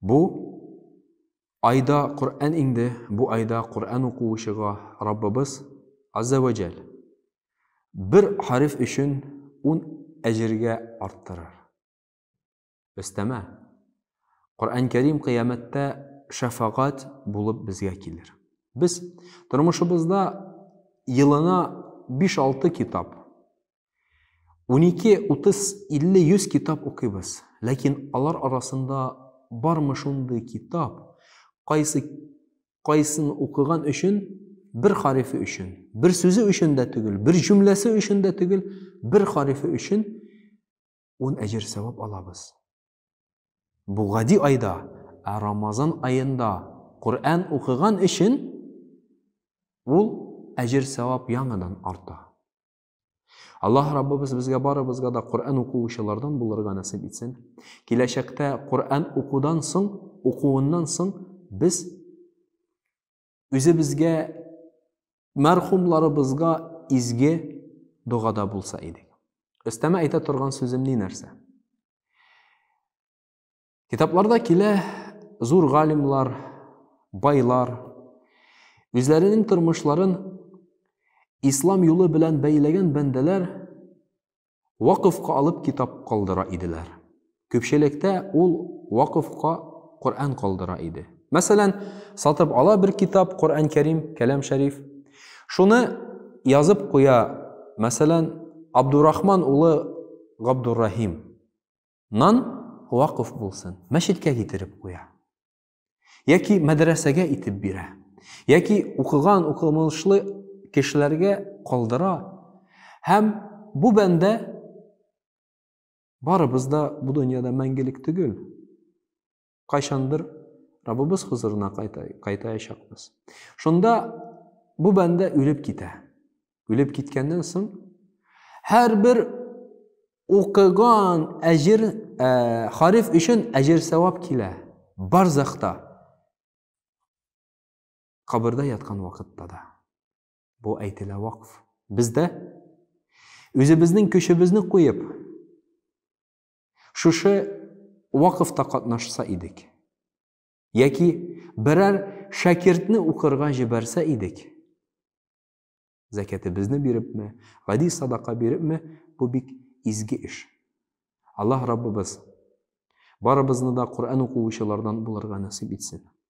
Бу айда Коръән иңде, бу айда Коръән укуучыга Раббыбыз Азза вә Җәл бер хәреф өчен ун әҗергә арттырыр. Өстәмә, Коръән Кәрим кыямәттә шәфагать булып безгә килер. Без тормышыбызда елына биш-алты китап 12, 30, 50, 100 китап укыйбыз. Ләкин алар арасында бармы шундый китап, кайсы кайсын укыган өчен бер харифе өчен, бер сүзе өчен дә түгел, бер җөмләсе өчен дә түгел, бер харифе өчен ун әҗер сәвап алабыз. Бу гади айда, ә Рамазан аенда Коръән укыган өчен ул әҗер сәвап яңадан арта. Аллаһ Раббыбыз безгә барыбызга да Коръән укучылардан булырга насыйп итсен. Киләчәктә Коръән укудан соң, укуыннан соң без үзебезгә мәрхумларыбызга изге догада булса идек. Өстәмә әйтә торган сүзем ни нәрсә? Китапларда килә зур галимлар, байлар үзләренең тормышларын ислам юлы белән бәйләгән бәндәләр вакыфка алып китап калдыра иделәр. Күпчелектә ул вакыфка Коръән калдыра иде. Мәсәлән, сатып ала бер китап Коръән Кәрим, Кәләм Шәриф. Шуны язып куя, мәсәлән, Абдурахман улы Габдуррахим. Нан вакыф булсын, мәчеткә китереп куя. Яки мәдрәсәгә итеп бирә. Яки укыган, укымылышлы кешеләргә калдыра. Һәм бу бәндә барыбыз да бу дөньяда мәңгелек түгел. Кайчандыр Раббыбыз хозурына кайтаячакбыз. Шунда бу бәндә үлеп китә. Үлеп киткәннән соң һәрбер укыган әҗер э, хариф өчен әҗер савап килә. Барзахта кабырда яткан вакытта да. Бу әйтелә вакф. Бездә үзебезнең көчебезне куеп Шушы вакыфта катнашса идек. Яки берәр шәкертне укырга җибәрсә идек. Зәкәтебезне бирепме, гади садака бирепме, бу бик изге эш. Аллаһ Раббыбыз барыбызны да Коръән укучылардан булырга насыйп итсен.